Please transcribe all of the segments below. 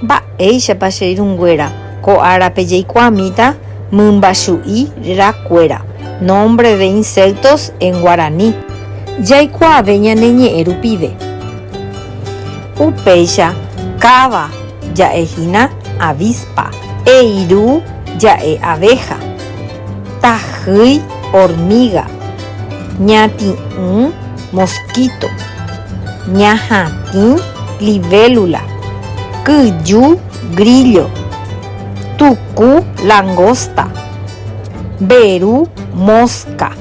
Mba'éichapa che irũnguéra ko árape jaikuaamíta mymbachu'i ra kuéra, nombre de insectos en guarani, jaikuaave ñane ñe'ẽ rupive. Upéicha káva ja'e hína avispa, eiru ja'e abeja, tahýi hormiga, ñati'ũ, mosquito, ñahatĩ, libélula, kyju, grillo, tuku, langosta, mberu, mosca,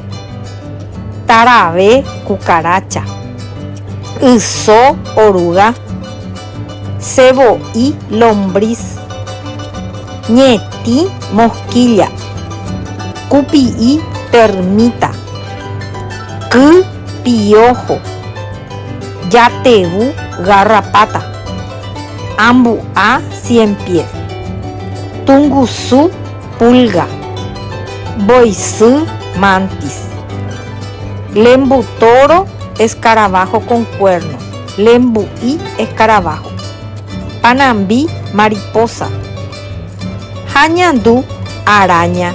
tarave, cucaracha, yso, oruga. Che voi lombrís. Ñetĩ mosquilla. Kupi'i termita. Ky piojo. Jatevũ garrapata. Ambu'a cien pies. Tungusu pulga. Mboysy mantis. Lembu toro escarabajo con cuerno. Lembu'i escarabajo. Panambi mariposa. Ha ñandu araña.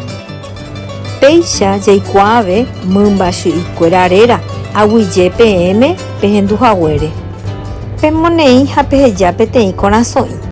Péicha jaikuaave mymba chy'ykuéra réra aguyje peẽme pehendu haguére. Pemoneĩ ha peheja peteĩ korasõ'i.